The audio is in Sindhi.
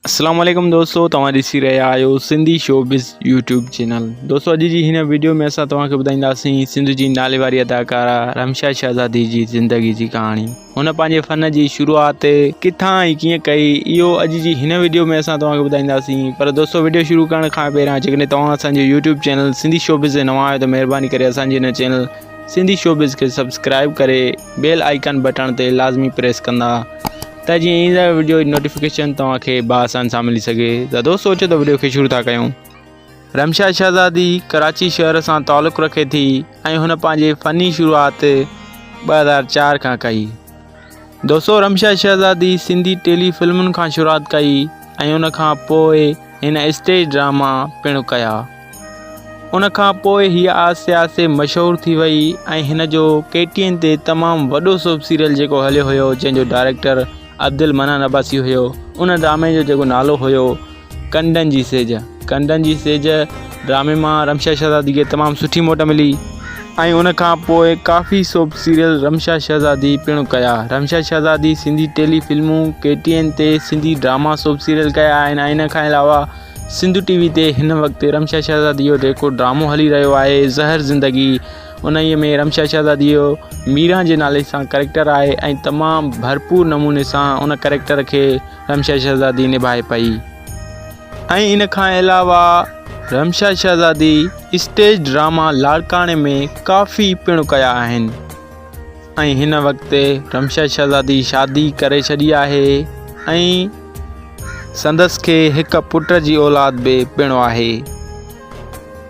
السلام عليڪم دوستو توهان ڏسي رهيا آهيو سنڌي شو بز يوٽيوب چينل دوستو اڄ جي هن ويڊيو ۾ اسان توهان کي ٻڌائينداسين سنڌ جي نالي واري اداڪارا رمشا شهزادي جي زندگي جي ڪهاڻي هن پنهنجي فن جي شروعات ڪٿان ۽ ڪيئن ڪئي اهو اڄ جي هن ويڊيو ۾ اسان توهان کي ٻڌائينداسين پر دوستو ويڊيو شروع ڪرڻ کان پهريان جيڪڏهن توهان اسان جو YouTube channel Sindhi show buzz نوان آهيو ته مهرباني ڪري اسان جي هن چينل سنڌي شو بز کي سبسڪرائب ڪري بيل آئيڪن بٽڻ تي لازمي پريس ڪندا ته جيئن ايندڙ وڊيو جي نوٽيفڪيشن توهان کي بآسان سان ملي سگهي ته دوستو اچو ته وڊيو کي شروع ٿا ڪيون رمشا شهزادي ڪراچي شهر سان تعلق رکي ٿي ۽ هن پنهنجي فني شروعات ٻه هزار چار کان ڪئي دوستو رمشا شهزادي سنڌي ٽيلي فلمن کان شروعات ڪئي ۽ ان کان پوء هن اسٽيج ڊراما پڻ ڪيا ان کان پوء هيء آسيا سي مشهور ٿي وئي ۽ هن جو ڪي ٽي اين تي تمام وڏو سوپ سيريل جيڪو هليو هيو جنهن جو ڊائريڪٽر عبدالمنان عباسي هيو ان ڊرامي جو جيڪو نالو هيو ڪنڊن جي سيج ڪنڊن جي سيج ڊرامي مان رمشا شهزادي کي تمام سٺي موٽ ملي ۽ ان کان پوء ڪافي سوپ سيريل رمشا شهزادي پڻ ڪيا رمشا شهزادي سنڌي ٽيلي فلمون ڪي ٽي اين تي سنڌي ڊراما سوپ سيريل ڪيا آهن ۽ ان کان علاوه سنڌو ٽي وي تي هن وقت رمشا شهزادي جو جيڪو ڊرامو هلي رهيو آهي زهر زندگي انهيء ۾ رمشا شهزادي جو ميران جي نالي سان ڪريڪٽر آهي ۽ تمام ڀرپور نموني سان ان ڪريڪٽر کي رمشا شهزادي نڀائي پئي ۽ ان کان علاوه رمشا شهزادي اسٽيج ڊراما لاڙڪاڻي ۾ ڪافي پڻ ڪيا آهن ۽ هن وقت رمشا شهزادي شادي ڪري ڇڏي آهي ۽ سندس کي هڪ پٽ جي اولاد به پڻ آهي.